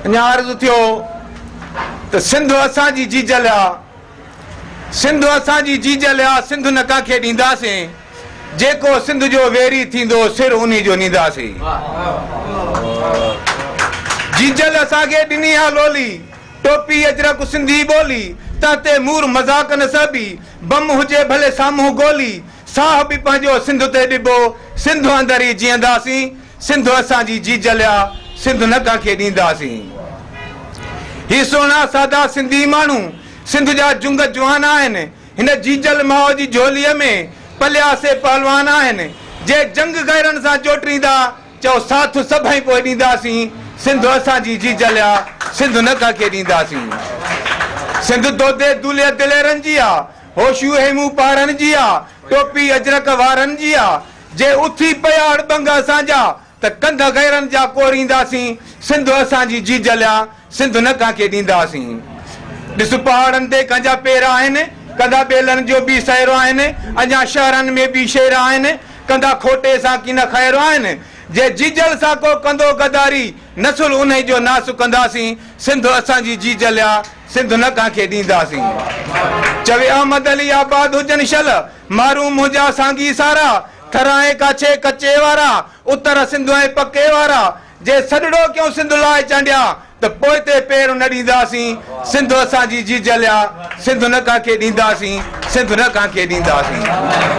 اڃا عرض ٿيو ته سنڌ اسان جي جيجل آ، سنڌ اسان جي جيجل آ، سنڌ نه ڪنهن کي ڏينداسين، جيڪو سنڌ جو ويري ٿيندو، سر انهي جو نينداسين. جيجل اسان کي ڏني آ لولي، ٽوپي اجرڪ سنڌي ٻولي، تنهن تي مور مذاق نه سهبي، بم هجي ڀلي سامهون گولي، ساهه به پنهنجو سنڌ تي ڏبو، سنڌ اندر ئي جيئنداسين، سنڌ اسان جي جيجل آ سنڌ نه ڪنهن کي ڏينداسين هي سهڻا سادا سنڌي ماڻهو سنڌ جا جنگ جوان آهن هن جيجل ماء جي جهولي ۾ پليا سي پهلوان آهن جي جنگ غيرن سان جوٽريندا چئو ساٿ سڀئي پوء ڏينداسين سنڌ اسان جي جيجل آ سنڌ نه ڪنهن کي ڏينداسين سنڌ دودي دولي دليرن جي آ هوشيو هيمون پهرن جي آ ٽوپي اجرڪ وارن جي آ. جي اٿي پيا اڙٻنگ اسان جا، ته ڪنڌ غيرن جا ڪورينداسين، سنڌ اسان جي جيجليان، سنڌ نه ڪنهن کي ڏينداسين. ڏس پهاڙن تي ڪنهن جا پير آهن، ڪنڌا ٻيلن جو به سير آهن، اڃا شهرن ۾ به شير آهن، ڪنڌا کوٽي سان ڪي نه خير آهن، جي جيجل سان ڪو ڪندو غداري، نسل انهي جو ناس ڪنداسين، سنڌ اسان جي جيجليان، سنڌ نه ڪنهن کي ڏينداسين. چوي احمد علي آباد هجن شل. محروم منهنجا سانگي سارا، ٿرائين ڪاڇي ڪچي وارا، اتر سنڌ ۽ پڪي وارا، جي سڏڙو ڪيون سنڌ لاء چانڊيا، ته پوئتي پير نه ڏينداسين، سنڌ اسان جي جيجل آ، سنڌ نه ڪنهن کي ڏينداسين، سنڌ نه ڪنهن کي ڏينداسين.